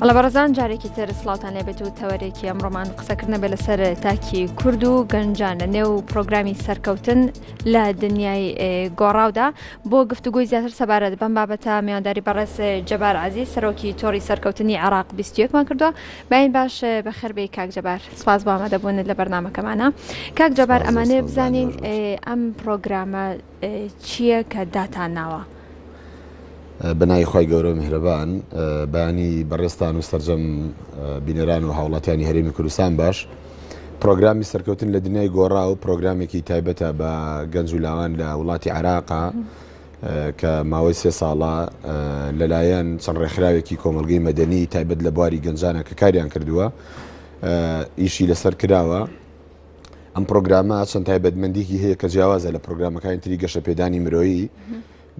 ئەڵە بەڕزان جارێکی تر سلااوان لەبێت و تەوەرێکی ئەمڕۆمان قسەکردە بێ لەسەر تاکی کورد و گەنجان لە نێو پرۆگرامی سەرکەوتن لە دنیای گۆڕاودا بۆ گفتوگوی زیاتر سەبارەت بەم بابەتە میانداری بەڕێز جەبار عزیز سەرۆکی تۆری سەرکەوتنی عراق 21مان کردووە باین باش بەخربەی کاک جەبار. سپاس بۆ ئامادە بوونت لە بەرنمەکەمانە کاک جەبار ئەمانێ بزانین ئەم پرۆگرامە چییە کە داتان ناوە بەنای خی گەورە میهرەبان بانی بەڕێستان و سرجەم بینەران و هاوڵاتیانی هەرێمی کوردستان باش پرۆگرامی سەرکەوتن لە دنیای گۆڕا و پرۆگرامێکی تایبەتە بە گەنج و لاوان لە وڵاتی عراقا کە ماوەی سێ ساڵە لەلایەن چەند ڕێکخراوێکی کۆمەڵگەی مەدەنی تایبەت لە بواری گەنجانە کە کاریان کردووە ئیشی لەسەر کراوە ئەم پرۆگرامە چەند تایبەتمەندیکی هەیە کە جیاوازە لە پرۆگرامەکانی تری گەشە پێدانی مرۆیی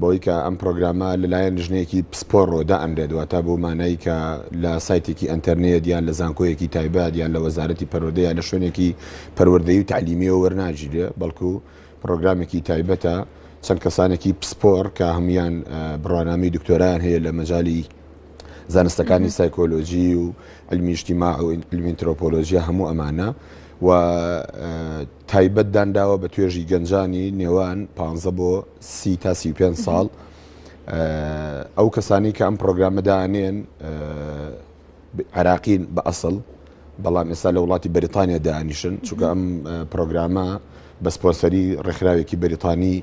بۆی کە ئەم پرۆگرامە لەلایەن ژنێکی پسپۆڕۆ دا ئەنرێت واتە بۆ مانایی کە لە سایتێکی ئەتەرنێت یان لە زانکۆیەکی تایبەت یان لە وەزارەتی پەرۆدەیە لە شوێنێکی پەروەردەی و تعلیمیەوە وەرناگیرێ بەڵکو پڕۆگرامێکی تایبەتە چەند کەسانێکی پسپۆر کە هەموان بڕوانامی دکتۆران هەیە لە مەجای زانستەکانی سایکۆلۆژی و ئەلمیشتیما و ئەلمینترۆپۆلۆژیە هەموو ئەمانە و تایبەت دانداوە بە توێژی گەنجانی نێوان پ بۆ سی تا سی پێ ساڵ ئەو کەسانی کە ئەم پرۆگرامەدانێن عراقین بە ئەسڵ بەڵام ئێستا لە وڵاتی بەریتانیا دانیشن چونکە ئەم پرۆگرامە بە سپۆنسەری ڕێکخراوێکی بەریتانی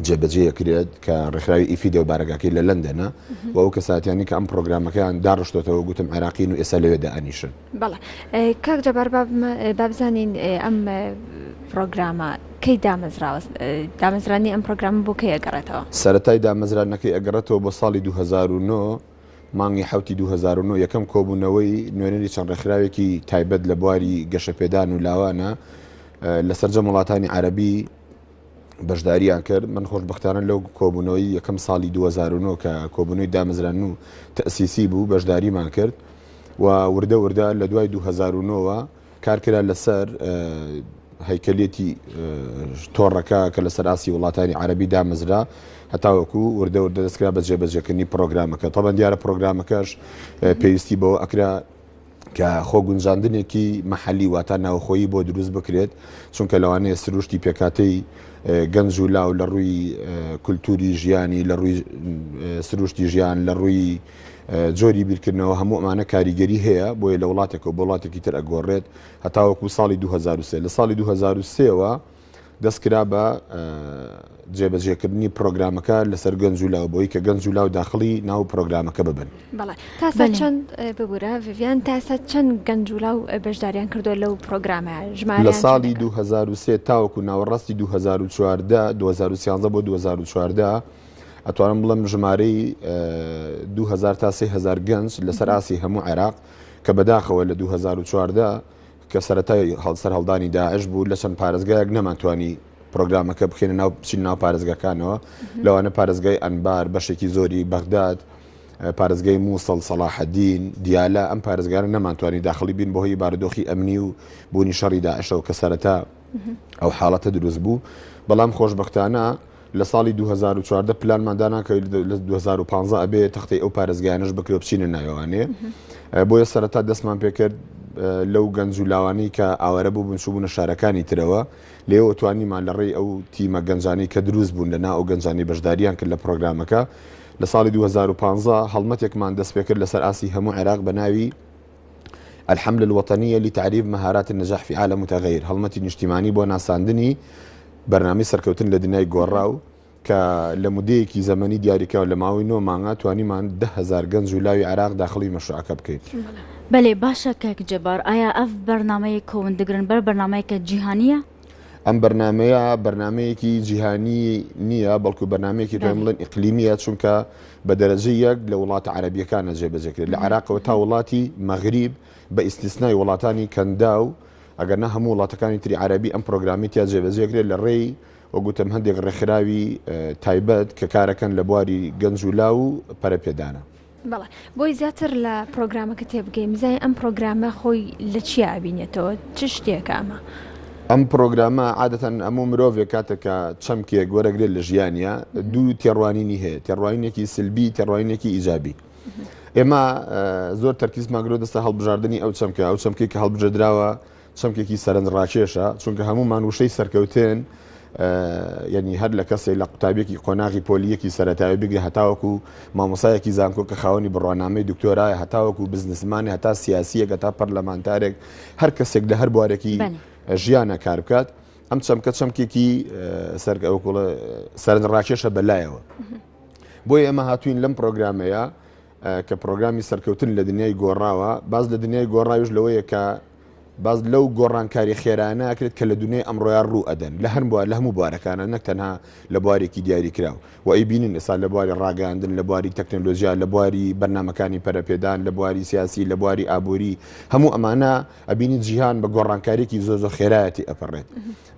جێبەجێکرێت کە ڕێکخراوی ئیفی دەو بارەگاکەی لە لەندەنە و ئەو کەساتیانی کە ئەم پرۆگرامەکەیان داڕشتێتەوە گوتم عێراقین و ئێستا لەوێدا ئەنیشن بەڵێ کاک جەبار بابزانین ئەم پرۆگرامە کەی دامەزراوە دامەزرانی ئەم پرۆگرام بۆ کەی ئەگەڕێتەوە سەتای دامەزرانەکەی ئەگەڕێتەوە بۆ ساڵی 2009 مانگی حەوتی دوو هەزار و نۆ یەکەم کۆبوونەوەی نوێنەری چەند ڕێکخراوێکی تایبەت لە بواری گەشەپێدان و لاوانە لە سەرجەم وڵاتانی عەربی بەشداریان کرد من خۆشببختانە لەو کۆبوونەوەی یەکەم ساڵی 2009 کە کۆبوونەوەی دامەزران و تەسیسی بوو بەشداریمان کرد و وردە وردە لە دوای 2009ەوە کارکرا لەسەر هەیکەلێتی تۆڕەکە کە لەسەر ئاسی وڵاتانی عربی دامەزرا هەتاوەکو وردە وردە دەستکرا بە جێبەجێکردنی پرۆگرامەکە تەبەن دیارە پرۆگرامەکەش پێویستی بەوە ئەکرا کە خۆگونجاندنێکی محەلی واتا ناوخۆیی بۆ دروست بکرێت چونکە لەوانەیە سروشتی پێکاتەی گەنج و لاو لە ڕووی کولتوری ژیانی لە ڕووی سروشتی ژیان لە ڕووی جۆری بیرکردنەوە هەموو ئەمانە کاریگەری هەیە بۆیە لە وڵاتێک و وڵاتێکی تر ئەگۆڕێت هەتاوەکو ساڵی 2023 لە ساڵی 2023ەوە دەستکرا بە جێبەجێکردنی پرۆگرامەکە لەسەر گەنج و لاو بۆی کە گەنج و لاو داخلی ناو پرۆگرامەکە ببن چەند ببوورە ڤیان تاسە چەند گەنج و لاو بەشداریان کردو لەو پرۆگرامە ژمار لە ساڵی 2023 تاوەکو ناوەڕاستی 2014 2013 بۆ 2014 ئەتوانم بڵم ژمارەی دوهزار تا سهزار گەنج لەسەر ئاسی هەموو عێراق کە بەداخەوە لە 2014 کە سەتای هەڵسەر هەڵدانی داعش بوو لە چەند پارێزگایەک نەمانتوانی پرۆگرامەکە بخێنە ناو بچین ناو پارێزگەکانەوە لەوانە پارێزگای ئەنبار بەشێکی زۆری بەغداد پارێزگای مووسڵ سەڵاحەدین دیالە ئەم پارێزگارە نەمانتوانی داخلی بین بۆهی بارودۆخی ئەمنی و بوونی شەڕی داعشەوە کە سەرەتا ئەو حاڵەتە دروست بوو بەڵام خۆشببختانە لە ساڵی دوو هەزار و چواردە پلانمان دانا کە لە دوو هەزار و پانزە ئەبێ تەختەی ئەو پارێزگایانەش بکرێ و بچینە ناوێوانێ ئە، بۆیە سەرەتا دەستمان پێ کرد ئە، لەو گەنج و لاوانەی کە ئاوارە بووبوون چووبوونە شارەکانی ترەوە، لێیەوە توانیمان لە ڕێی ئەو تیمە گەنجانەی کە دروست بوون لە نا ئەو گەنجانەی بەشدارییان کرد لە پرۆگرامەکە لە ساڵی دوو هەزار و پانزە هەڵمەتێکمان دەست پێ کرد لەسەر ئاستی هەموو عێراق بە ناوی، الحملە الوطنیە لتعریف مهارات النجاح فی عالم متغیر هەڵمەتی نیشتیمانی بۆ ناساندنی بەرنامەی سەرکەوتن لە دنیای گۆڕاو کە لە مدەیەکی زەمەنی دیاریکراو لە ماوەی نۆ مانگا توانیمان ده هزار گەنج و لاوی عراق داخڵی مەشروعەکە بکەین. بەلێ باشە کاک جبار ئایا ئەڤ بەرنامەیە کۆون دگرن بەر بەرنامەیەکە جیهانیە؟ ئەم بەرنمەیە بەرنمەیەکی جیهانی نییە بەڵکو بەنامەیەکی پێم بڵێن ئیقلیمیە چونکە بە دەرەجە یەک لە وڵاتە عربیەکانە جێبەجێکرێت لە عراقەوە تا وڵاتی مەغریب بە ئیسیسنای وڵاتانی کەندا و ئەگەر نە هەموو وڵاتەکانی تری عربی ئەم پرۆگرامی تیا جێبەجێکرێت لە ڕێی وەگوتم هەندێک ڕێکخراوی تایبەت کە کارەکەن لە بواری گەنج و لا و پەرەپێدانە. بەڵێ بۆی زیاتر لە پرۆگرامەکە تێبگەین بزای ئەم پرۆگرامە خۆی لە چی ئابینێتەوە چ شتێکە ئەمە؟ ئەم پرۆگرامە عادەتەن ئەموو مرۆڤێک کاتێکە چەمکێک وەرەگرێت لە ژیانە دوو تێڕوانینی هەیە تێڕوانینێکی سلبی تێڕوانینێکی ئیجابی ئێمە زۆر تەرکیز ماگرۆ دەستە هەڵبژاردننی ئەو چەمکە ئەو چەمکی کە هەڵبژێدراوە چەمکێکی سەرنج ڕاکێشە چونکە هەموومان وشەی سەرکەوتن یعنی هەر لە کەسێک لە قوتابێکی قۆناغی پۆلیەکی سەتاوی بگرە هەتاوەکو مامۆسایەکی زانکۆ کە خاوەنی بڕوانامەی دکتۆرایە هەتاوەکو بزنسمانی هەتا سیاسیەکە تا پەرلەمانتارێک هەر کەسێک لە هەر بوارێکی ژیانە کار بکات ئەم چەمکە چەمکێکی سەرگەوەکوڵە سەرنج ڕاکێشە بەلایەوە بۆی ئێمە هاتوین لەم پرۆگرامەیە کە پرۆگرامی سەرکەوتن لە دنیای گۆڕاوە، باس لە دنیای گۆڕاویش لەوەیە کە باس لەو گۆڕانکاری خێرایانە ئەکرێت کە لە دنیای ئەمڕۆیا ڕوو ئەدەن لە هەر بوار لە هەموو بوارەکانە نەک تەنها لە بوارێکی دیاریکراو و ئەیبینین ئێستا لە بواری ڕاگەیاندن لە بواری تەکنەلۆژیا لە بواری بەرنامەکانی پەرەپێدان لە بواری سیاسی لە بواری ئابووری هەموو ئەمانە ئەبینین جیهان بە گۆڕانکارێکی زۆر زۆر خێرایەتی ئەپەڕێت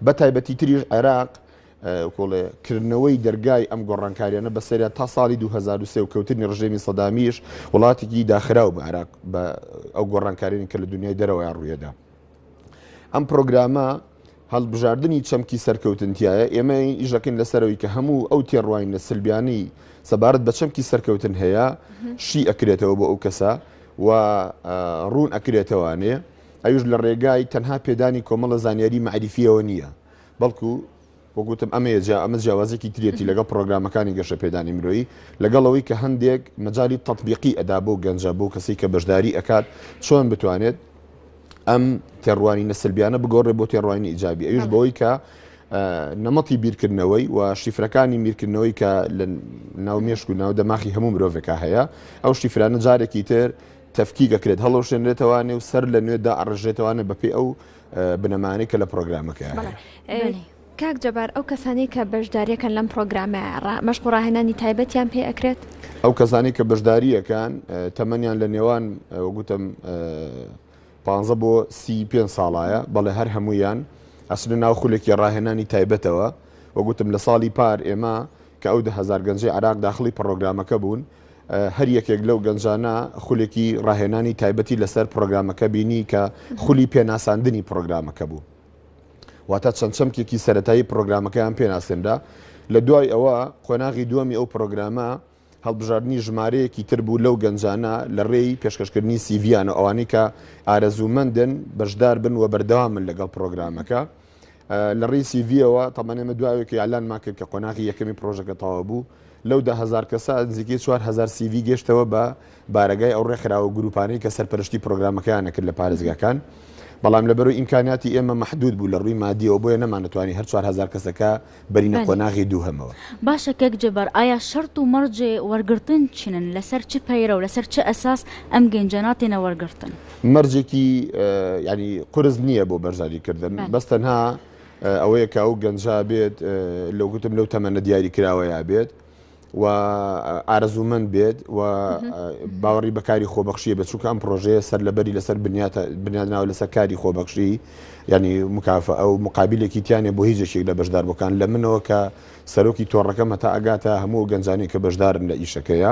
بە تایبەتی تریش عێراق کۆڵێ کردنەوەی دەرگای ئەم گۆڕانکاریانە بەسەریان تا ساڵی 2023 و کەوتنی ڕژێمی سەدامیش وڵاتێکی داخراو بە عراق بە ئەو گۆڕانکارانی کە لە دنیای دەرەوەیان ڕوویەدا ئەم پرۆگرامە هەڵبژاردننی چەمکی سەرکەوتنتیایە ئێمە ئیژەکەین لەسەرەوەی کە هەموو ئەو تێڕواین لە سلبیانی سەبارەت بە چەمکی سەرکەوتن هەیە شی ئەکرێتەوە بۆ ئەو کەسە و ڕوون ئەکرێتەوانێ ئەوش لە ڕێگای تەنها پێدانی کۆمەڵە زانیاری معریفیەوە نییە بەڵکو وەک وتم ئەمەیە جا ئەمە جیاوازێکی ترێتی لەگەڵ پرۆگرامەکانی گەشەپێدانی مرۆیی لەگەڵ ئەوەی کە هەندێک مەجای تەطبیقی ئەدا بۆ گەنجە بۆ کەسی کە بەشداری ئەکات چۆن بتوانێت ئەم تێڕوانینە سلبیانە بگۆڕێ بۆ تێڕوانینی ئیجابی ئەوش بەڵێ. بەوەی کە ئە، نەمەتی بیرکردنەوەی و شیفرەکانی میرکردنەوەی کە لە ناو مێشک و ناو دەماخی هەموو مرۆڤێکا هەیە ئەو شیفرانە جارێکی تر تەفکیک ئەکرێت هەڵەوشێنرێتەوە نێو سەر لە نوێ دائەڕێژرێتەوانە بەپێی ئەو بنەمانەی کە لە پرۆگرامەکە هەیە. کاک جەبار ئەو کەسانی کە بەشداریەکەن لەم پرۆگرامە مەشق و ڕاهێنانی تایبەتیان پێ ئەکرێت ئەو کەسانی کە بەشداریەکان تەمەنیان لە نێوان وگوتم پ بۆ سی پێ ساڵایە بەڵێ هەر هەمویان ئەسنە ناو خولێکی ڕاهێنانی تایبەتەوە وگوتم لە ساڵی پار ئێمە کە ئەو دە هەزار گەنجەی عێراق داخڵی پڕۆگرامەکە بوون، هەر یەکێک لەو گەنجانە خولێکی ڕاهێنانی تایبەتی لەسەر پڕۆگرامەکە بینی کە خولی پێناساندنی پڕۆگرامەکە بوو. واتە چەند چەمکێکی سەرەتایی پڕۆگرامەکەیان پێناسێنرا. لە دوای ئەوە قۆناغی دووەمی ئەو پڕۆگرامە هەڵبژاردنی ژمارەیەکی تر بوو لەو گەنجانە لە ڕێی پێشکەشکردنی سیڤییانەوە ئەوانەی کە ئارەزوومەندن بەشداربن و بەردەوامن لەگەڵ پڕۆگرامەکە. لە ڕی سیڤەوە تەمەێمە دواوێکی یالانمان کرد کە قۆناغی یەکەمی پرۆژەکە تەوا بوو لەو ده هزار کەسە نزیکی 4هزار سیڤی گەشتەوە بە بارگای ئەو ڕێکخراوە گروپانەی کە سەرپەرشتی پرۆگرامەکەیان نەکرد لە پارێزگاکان بەڵام لەبەرو ئیمکاناتی ئێمە محدود بوو لە ڕووی مادیەوە بۆیە نەمانەتوانی هەر 4هزار کەسەکە بەرینە قۆناغی دووهەمەوە. باشە کەک جەبار ئایا شەرت و مەرجێ وەرگرتن چنن لەسەر چ پەیرەو لەسەر چ ئەساس ئەم گەنجە ناتێنە وەرگرتن؟ مەرجێکی یانی قورس نییە بۆ بەرزانی کردن بەس تەنها ئەوەیە کە ئەو گەنجە بێت لەو گوتم لەو تەمەنە دیاری کراوەیە بێت و ئارەزوومەند بێت و باوەڕی بەکاری خۆبەخشیە بە چونکە ئەم پرۆژەیە سەر لەبەری لەسەر بنیادناوە لەسەر کاری خۆبەخشی ینی مکافە ئەو مقابلێکی تیانێ بۆ هیچێک لە بەشدار بکان لە منەوە کە سەرۆکی تۆڕەکەمە تا ئەگاتە هەموو گەنجانی کە بەشدارن لە ئیشەکەیە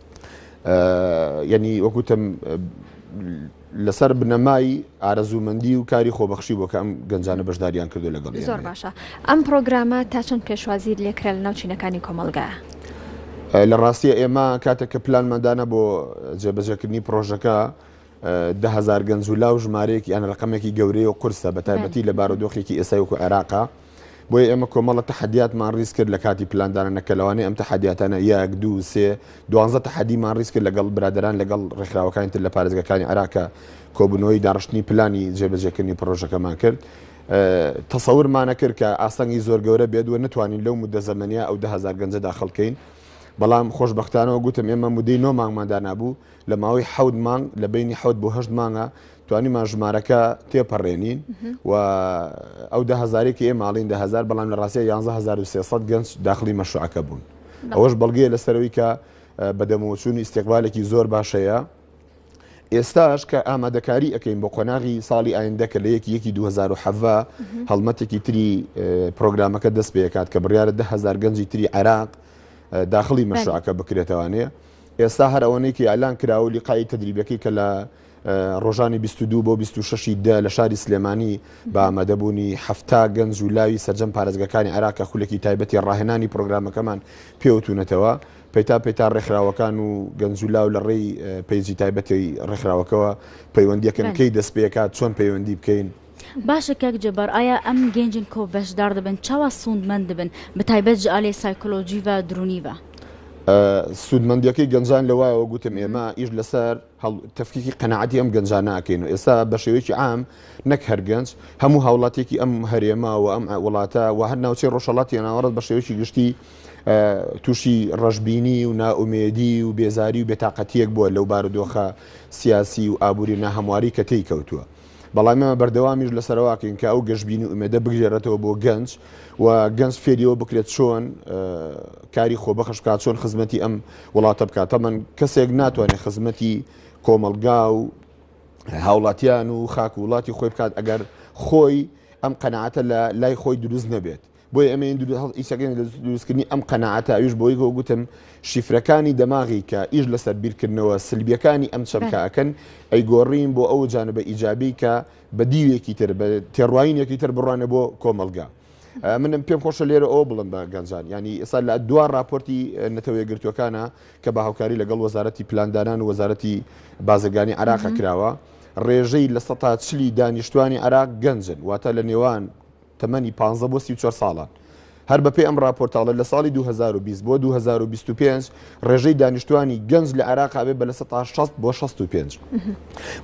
یەنی وەکوتم لەسەر بنەمای ئارەزوومەندی و کاری خۆبەخشی بۆ کە ئەم گەنجانە بەشداریان کردو لەگەڵ زۆر باشە ئەم پرۆگرامە تا چەند پێشوازیر لێکرا لە ناوچینەکانی کۆمەلگا. لە ڕاستیە ئێمە کاتێک کە پلانمەدانە بۆ جێبەجێکردنی پرۆژەکە دە هەزار گەنج و لاو ژمارەیەکی یان ڕقمێکی گەورەیە و قرسە بە تایبەتی لە بارودۆخێکی ئێسای وکو عێراقا بۆیە ئێمە کۆمەڵە تەحەدیاتمان ڕیز کرد لە کاتی پلاندانە نەکە لەوانەیە ئەم تەحەدیاتانە یەک دوو سێ دوانزە تەحەدیمان ڕیز کرد لەگەڵ برادران لەگەڵ ڕێکخراوەکانی تر لە پارێزگەکانی عراکە کۆبنەوەی داڕشتنی پلانی جێبەجێکردنی پرۆژەکەمان کرد تەسەورمانە کرد کە ئاستەنگی زۆر گەورە بێت و نتوانین لەو مدە زەمەنیا ئەو دههزار گەنجە داخلکەین بەڵام خۆشببختانەوە گوتم ئێمە مدەی نۆ مانگماندا نبوو لە ماوەی حەوت مانگ لە بینی حەوت بۆ هەشت مانگە توانیمان ژمارەکە تێپەڕێنین و ئەو دە هزارێکی ئێ ماڵین دە هزار بەڵام لە ڕاستە 11 گەنج داخلی مەشروعەکە بوون ئەوەش بەڵگەیە لەسەرەوەی کە بەدەمەوەچوونی ئیسیقبالێکی زۆر باشەیە ئێستاش کە ئامادەکاری ئەەکەین بۆ قۆناغی ساڵی ئایندە کە لە یەکی یەکی 2010 هەڵمەتێکی تری پرۆگرامەکە دەست پێکات کە بڕیاە دههزار گەنجی تری عێراق داخلی مەشروعەکە بکرێتوانێ. ئێستا هەر ئەوەنەی کە ئیلان کرا و لیقایی تەدریبەکەی کە لە ڕۆژانی 22 بۆ 26 دە لە شاری سلێمانی بە ئامادەبوونی هەفتا گەنج و لاوی سەرجەم پارێزگەکانی عێراقە خولێکی تایبەتی ڕاهێنانی پرۆگرامەکەمان پێوتونەتەوە پەیتا پەیتا ڕێکخراوەکان و گەنج و لاو لە ڕێی پەیجی تایبەتی ڕێکخراوەکەەوە پەیوەندیەکەن کەی دەست پێکات چۆن پەیوەندی بکەین باشە کاک جبار ئایا ئەم گەنجن کۆ بەشدار دەبن چاوا سوندمەند دەبن بەتایبەت جئالێ سایکۆلۆجی و درونی و. سوودمەندیەکەی گەنجان لەوایەوە گوتم ئێمە ئیش لەسەر تەفکیکی قەنەعەتی ئەم گەنجانە ئەکەین و ئێستا بە شێوەیەکی عام نەک هەر گەنج هەموو هاوڵاتێکی ئەم هەرێما و ئەم وڵاتە و هەر ناوچەی ڕۆژهەڵاتی ناوەڕست بە شێوەیەکی گشتی تووشی ڕەشببینی و نائومێدی و بێزاری و بێتاقەتیەک بووە لەو بارودۆخە سیاسی و ئابووری ناهەمواری کە تێی کەوتووە. بەڵام ئێمە بەردەوامیش لەسەرواکەین کە ئەو گەشببینی و ئومێدە بگرێرێتەوە بۆ گەنج و گەنج فێریەوە بکرێت چۆن کاری خۆ بەخش بکات چۆن خزمەتی ئەم وڵاتە بکات تەمەەن کەسێک ناتوانێت خزمەتی کۆمەلگا و هاوڵاتیان و خاک و وڵاتی خۆی بکات ئەگەر خۆی ئەم قەنەعاتە لە لای خۆی دروست نەبێت بۆیە ئێمە ین دروست هەڵ ئیسە کەین لە دروست کردنی ئەم قەناعەتە ئەویش بۆی گۆ گوتم شیفرەکانی دەماغی کە ئیش لەسەر بیرکردنەوە سلبیەکانی ئەم چەمکە ئەکەن ئەی گۆڕین بۆ ئەو جانبە ئیجابی کە بە دیوێکی تر بە تێڕواینێکی تر بڕوانە بۆ کۆمەلگا. منم پێم خۆشە لێرە ئەوە بڵم بە گەنجان ینی ئێستا لە دوا راپۆرتی نەتەوەیەگرتوەکانە کە بە هاوکاری لەگەڵ وەزارەتی پلاندانان و وەزارەتی بازرگانی عراقە کراوە ڕێژەی لە سە چلی دانیشتوانی عراق گەنجن واتە لە نێوان تەمەنی پانزە بۆ سی و چوار ساڵان. هەر بەپێی ئەم ڕاپۆرتاڵە لە ساڵی دوو هەزار و بیست بۆ دوو هەزار و بیست و پێنج ڕێژەی دانیشتوانی گەنج لە عێراق ئەبێت بە لە سەدا شەست بۆ شەست و پێنج.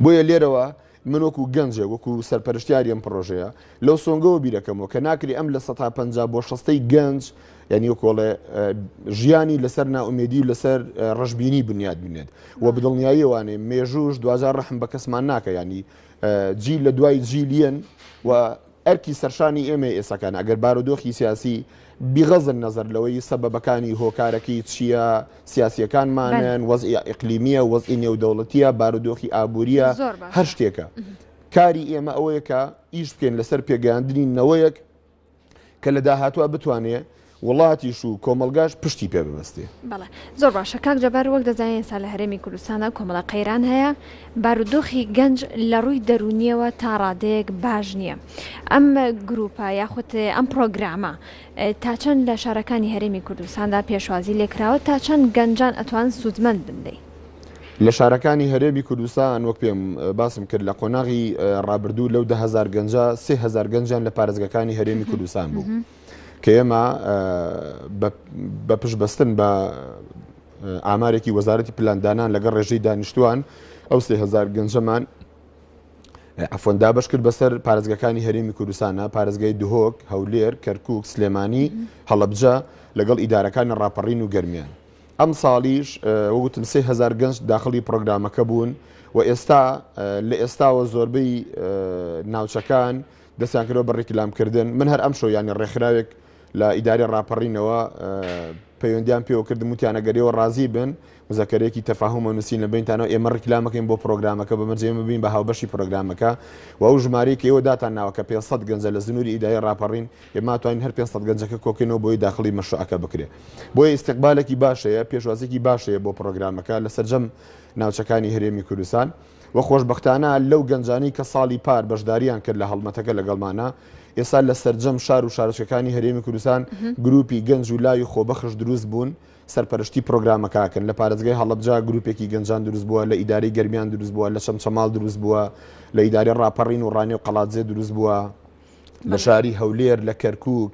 بۆیە لێرەوە من وەکو گەنجێک وەکو سەرپەرشتیاری ئەم پڕۆژەیە لەو سۆنگەوە بیرەکەمەوە کە ناکری ئەم لە سەدا پەنجا بۆ شەستەی گەنج یعنی وەکۆڵێ ژیانی لەسەر ناومێدی و لەسەر ڕژبینی بنیاد بنێت و بدڵنیاییوانێ مێژوش دوجار ڕحم بە کەسمان ناکە ینی جی لە دوای جیلیەن و ئەرکی سەرشانی ئێمەیە ئێستاکان ئەگەر بارودۆخی سیاسی بغض نەزەر لەوەی سەبەبەکانی هۆکارەکەی چییە، سیاسییەکانمانن، وەزعی ئیقلیمییە، وەزعی نێودەوڵەتییە، بارودۆخی ئابوورییە، هەر شتێکە. کاری ئێمە ئەوەیە کە ئیش بکەین لەسەر پێگەیاندنی نەوەیەک کە لە داهاتووە بتوانێ وڵاتیش و کۆمەڵگاش پشتی پێ ببەستێ. بەڵێ زۆر باشە کاک جەبار وەک دەزانین ئێستا لە هەرێمی کوردستاندا کۆمەڵە قەیران هەیە بارودۆخی گەنج لە ڕووی دەروونیەوە تا ڕادەیەک باش نییە ئەم گرووپە یاخود ئەم پڕۆگرامە تا چەند لە شارەکانی هەرێمی کوردستاندا پێشوازی لێکراوە تا چەند گەنجان ئەتوان سوودمەند بن لێی لە شارەکانی هەرێمی کوردستان وەک پێم باسم کرد لە قۆناغی ڕابردوو لەو دههزار گەنجە سهزار گەنجان لە پارێزگەکانی هەرێمی کوردستان بوو. کە ئێمە بە پشتبەستن بە ئامارێکی وەزارەتی پلاندانان لەگەڵ ڕێژەی دانیشتوان ئەو سێ هزار گەنجەمان ئەفۆن دابش کرد بەسەر پارێزگەکانی هەرێمی کوردستانە پارێزگای دهۆک هەولێر کەرکک سلێمانی هەڵبجە لەگەڵ ئیدارەکانی ڕاپەڕین و گەرمیان ئەم ساڵیش وەگوتم سێ هزار گەنج داخلی پرۆگرامەکە بوون و ئێستا لە ئێستاوە زۆربەی ناوچەکان و دەستیان کردوە بە ڕیکلام کردن من هەر ئەمشەو یانی ڕێکخراوێک لە ئیدارەی ڕاپەڕینەوە پەیوەندیان پێوە کردم وتیانە گەرەوە ڕازی بن مزەکەرێکی تەفاهمە نووسین لە بینتانەوە ئێمە ڕیکلامەکەین بۆ پرۆگرامەکە بە مەرجێ ببین بە هاوبەشی پرۆگرامەکە و ئەو ژمارەیەکی ئێوە داتان ناوە کە 500 گەنجە لە زنووری ئیدای ڕاپەڕین ئێمە توانین هەر 500 گەنجەکە کۆکەینەوە بۆی داخلی مەشروعەکە بکرێت بۆیە ئیستقبالێکی باشەیە پێشوازێکی باشەیە بۆ پرۆگرامەکە لە سەرجەم ناوچەکانی هەرێمی کوردستان وە خۆشبەختانە لەو گەنجانەی کە ساڵی پار بەشداریان کرد لە هەڵمەتەکە لەگەڵمانە، ئێستا لە سەرجەم شار و شارۆچکەکانی هەرێمی کوردستان گروپی گەنج و لاوی خۆبەخش دروست بوون سەرپەرشتی پرۆگرامەکەکەن، لە پارێزگای هەڵەبجە گروپێکی گەنجان دروست بووە، لە ئیدارەی گەرمیان دروست بووە، لە چەمچەماڵ دروست بووە، لە ئیدارەی ڕاپەڕین و ڕانێو قەڵادزێ دروست بووە. لە شاری هەولێر لە کەرکک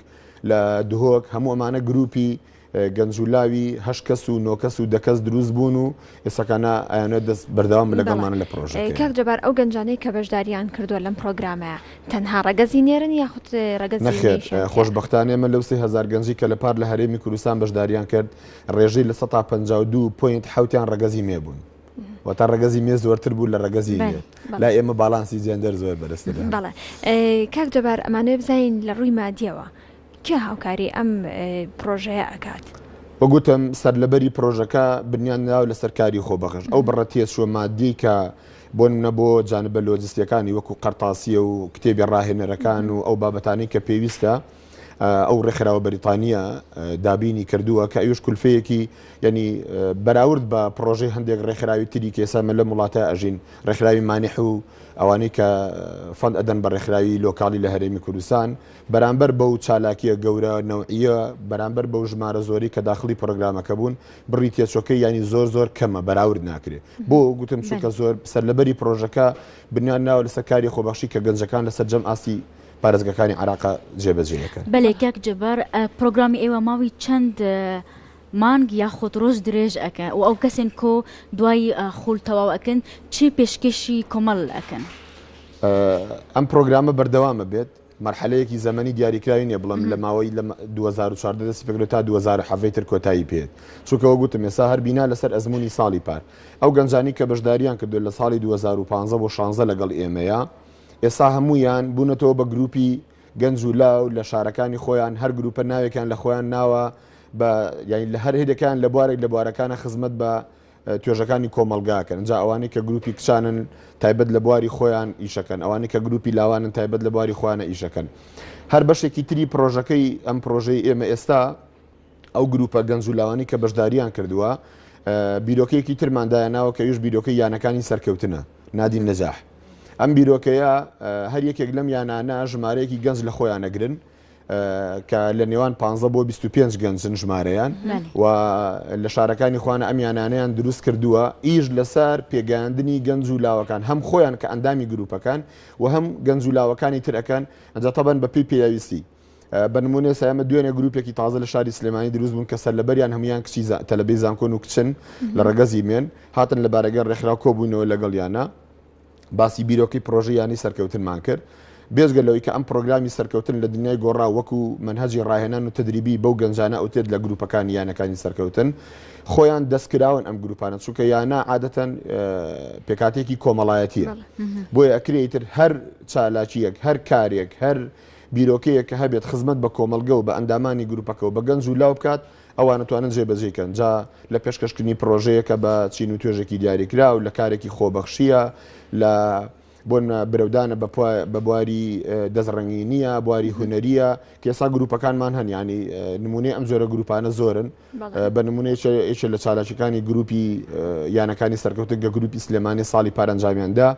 لە دهۆک هەموو ئەمانە گروپی گەنج و لاوی هە کەس و نۆکەس و دەکەس دروست بوون و ئێسەکانە ئەیانە دەست بەرداوام لەگەڵمانە لە پرۆژەکە کاک جەبار ئەو گەنجانەی کە بەشداریان کردووە لەم پرۆگرامە تەنها ڕگەزی نێرن یاخود ڕگەز خۆشببختانێ مە لەو هزار گەنجی کە لە پار لە هەرێمی کوردستان بەشداریان کرد ڕێژەی لە 152 پوینت حوتیان ڕگەزی مێبوون وەتا ڕگەزی مێ زۆرتر بوو لە ڕگەزی لا ئێمە باڵانسی جێندەر زۆر بەرزتر بەڵێ کاک جەبار ئەمانێ بزین لە ڕووی مادیەوە کێ هاوکاری ئەم پرۆژەیە ئەکات. وەگوتم سەر لەبەری پرۆژەکە بنیان ناو لە سەرکاری خۆ بەخش ئەو بڕە تێسوە مادی کە بۆ منە بۆ جانبە لۆجستیەکانی وەکو قەرتاسیە و کتێبی ڕاهێنەرەکان و ئەو بابەتانی کە پێویستە ئەو ڕێکخراوە بەریتانیە دابینی کردووە کە ئەوش کولفەیەکی ینی بەراورد بە پرۆژەی هەندێک ڕێکخراوی تری کێسامە لە وڵاتە ئەژین ڕێکخراوی مانیح و ئەوانەی کە فەند ئەدەن بە ڕێکخراوی لۆکالی لە هەرێمی کوردستان بەرامبەر بەو چالاکیە گەورە نەوعە بەرامبەر بەو ژمارە زۆری کە داخلی پرۆگرامەکە بوون بڕی تێچۆکە ینی زۆر زۆر کەمە بەراورد ناکرێت بۆ گوتم چونکە زۆر سەرلەبەری پرۆژەکە بنیان ناوە لەسەر کاری خۆبەخشی کە گەنجەکان لەسەر جەم ئاستی پارێزگەکانی عێراق جێبەجێ دەکەن. بەلێ کاک جبار پرۆگرامی ئێوە ماوی چەند مانگ یاخود ڕۆژ درێژ ئەکە و ئەو کەسێن کۆ دوای خول تەواو ئەکەن چی پێشکەشی کۆمەڵ ئەکەن ئەم پرۆگرامە بەردەوامە بێت مرحلەیەکی زەمەنی دیاریکراوی نیە بڵم لە ماوەی لە 2014 دەستی پێکرێت تا 2010 تر کۆتایی پێت چونکەوە گوتم ێسا هەر بینا لەسەر ئەزمموی ساڵی پار ئەو گەنجانی کە بەشداریان کردو لە ساڵی 2015 بۆ 16 لەگەڵ ئێمەیە ئێستا هەموویان بوونەتەوە بە گروپی گەنج و لاو لە شارەکانی خۆیان هەر گروپە ناوێکیان لە خۆیان ناوە بە یانی لە هەر هێدەکان لە بوارێک لە بوارەکانە خزمەت بە توێژەکانی کۆمەلگاکەن جا ئەوانەی کە گروپی کچانن تایبەت لە بواری خۆیان ئیشەکەن ئەوانەی کە گروپی لاوانن تایبەت لە بواری خۆیانە ئیشەکەن هەر بەشێکی تری پرۆژەکەی ئەم پرۆژەی ئێمە ئێستا ئەو گرووپە گەنج و لاوانی کە بەشدارییان کردووە، بیرۆکەیەکی ترمان دایانناوە کە ئەویش بیرۆکەی یانەکانی سەرکەوتنە، نادی النجاح. ئەم بیرۆکەیە هەر یەکێک لەم یانانە ژمارەیەکی گەنج لە خۆیان ئەگرن کە لە نێوان پانزە بۆ بیست و پێنج گەنجن ژمارەیان و لە شارەکانی خوانە ئەم یانانیان دروست کردووە ئیش لەسەر پێگەاندنی گەنج و لاوەکان هەم خۆیان کە ئەندامی گروپەکان و هەم گەنج و لاوەکانی ترەکەن ئەجا تەبەن بەپی پێویستی بە نمونێ سامە دوێنێ گروپێکی تازە لە شاری سلێمانی دروست بوون کە سەر لەبەریان هەموان کچی تەلبی زانکۆن و کچن لە ڕگەزی مێن هاتن لە بارەگە ڕێکخرا کۆبوونەوە لەگەڵ یانە باسی بیرۆکی پرۆژیانی سەرکەوتنمان کرد. بێزگە لەوەی کە ئەم پرۆگرامی سەرکەوتن لە دنیای گۆڕا وەکو منهجی ڕاهێنان و تدریبی بەو گەنجانە ئەوتێت لە گروپەکانی یانەکانی سەرکەوتن خۆیان دەستکراون ئەم گروپانە چونکە یانە عادەتەن پێکاتێکی کۆمەڵایەتیە بۆیە ئەکرێتتر هەر چالاکیەک هەر کارێک هەر بیرۆکەیەک کە هەبێت خزمەت بە کۆمەڵگە و بە ئەندامانی گروپەکە و بە گەنج و لاو بکات ئەوان ئەتوانن جێبەجێی کەن جا لە پێشکەشکردنی پڕۆژەیەکە بە چین و توێژێکی دیاریکراو لە کارێکی خۆبەخشییە لە بۆ نمونە برەودانە بە بە بواری دەست ڕەنگینیە بواری هونەریە کە ئێستا گروپەکانمان هەن ینی نمونەی ئەم جۆرە گروپانە زۆرن بە نمونەیەکە لە چالاکەکانی گروپی یانەکانی سەرکەوتن گە گروپی سلێمانی ساڵی پارەنجامیاندا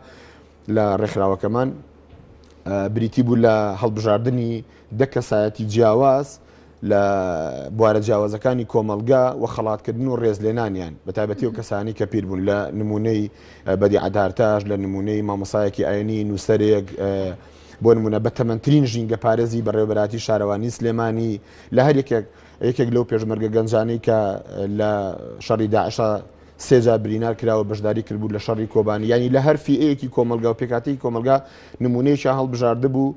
لە ڕێکخراوەکەمان بریتی بوو لە هەڵبژاردننی دە کەسایەتی جیاواز لە بوارە جیاوازەکانی کۆمەلگا و خەڵاتکردن و ڕێزلێنانیان بە تایبەتی و کەسانی کە پیر بوون لە نمونەی بەدی عدارتاش لە نمونەی مامۆسایەکی ئاینی نووسەرێک بۆ نمونە بە تەمەترین ژینگە پارێزی بەڕێوبەراتی شارەوانی سلێمانی لە هەر یەکێک یەکێک لەو پێشمەرگە گەنجانی کە لە شەڕی داعشا سێ جار برینار کراوە بەشداری کردبوو لە شەڕی کۆبانی یانی لە هەر فیەیەکی کۆمەلگا و پێکاتەی کۆمەلگا نمونەیەکیان هەڵبژاردبوو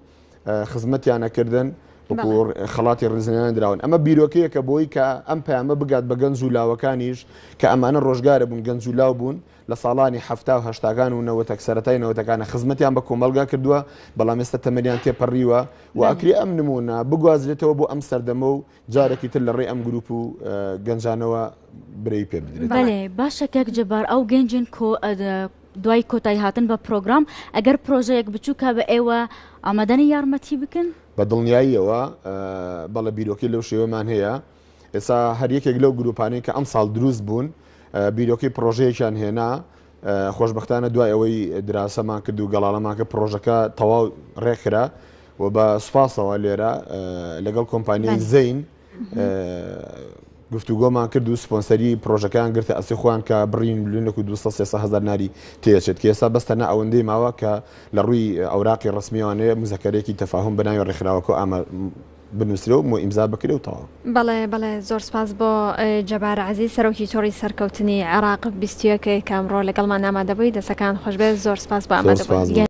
خزمەتیانە کردن وەکوور خەڵاتی ڕزنیان دراون ئەمە بیرۆکەیەکە بۆی کە ئەم پامە بگات بە گەنج و لاوەکانیش کە ئەمانە ڕۆژگارە بوون گەنج و لاو بوون لە ساڵانی هەفتا و هشتاگان و نەوەتەک سەرەتای نەوەتەکانە خزمەتیان بە کۆمەلگا کردووە بەڵام ئێستا تەمەریان تێپەڕیوە و ئەکری ئەم نمونە بگوازرێتەوە بۆ ئەم سەردەمە و جارێکی تر لە ڕێی ئەم گروپ و گەنجانەوە برەی پێ بدرێت بەێ باشە کەک جبار ئەو گەنجین کۆ دوای کۆتایی هاتن بە پرۆگرام ئەگەر پرۆژەیەک بچووکە بە ئێوە ئامادەنی یارمەتی بکەن بە دڵنیاییەوە بەڵە بیرۆکی لەو شێوەمان هەیە ئێستا هەر یەکێک لەو گروپانەی کە ئەم ساڵ دروست بوون بیرۆکی پرۆژەیەکیان هێنا خۆشبەختانە دوای ئەوەی دراسەمان کرد و گەڵاڵەمان کرد پڕۆژەکە تەواو ڕێکخرا و بە سوپاسەوە لێرە لەگەڵ کۆمپانیای زەین گفتوگۆمان کرد و سپۆنسەری پرۆژەکان گرتە ئەسی خۆیان کە بڕین لونەک و 200 هزار ناری تێچێت کە ئێستا بەستە نە ئەوەندەی ماوە کە لە ڕووی ئەوراقی ڕسمیوانەیە مزەکەرێکی تەفاهم بەناوی ڕێکخراوەکە ئەمە بنوسرێ و مۆ ئیمزا بکرێ و تەواو. بەڵێ بەڵێ زۆر سپاس بۆ جەبار عەزیز سەرۆکی تۆڕی سەرکەوتنی عێراق بیست و یەک کە ئەمڕۆ لەگەڵمان ئامادەبووی دەستەکانت خۆشبێت زۆر سپاس بۆ ئامادەبوونت.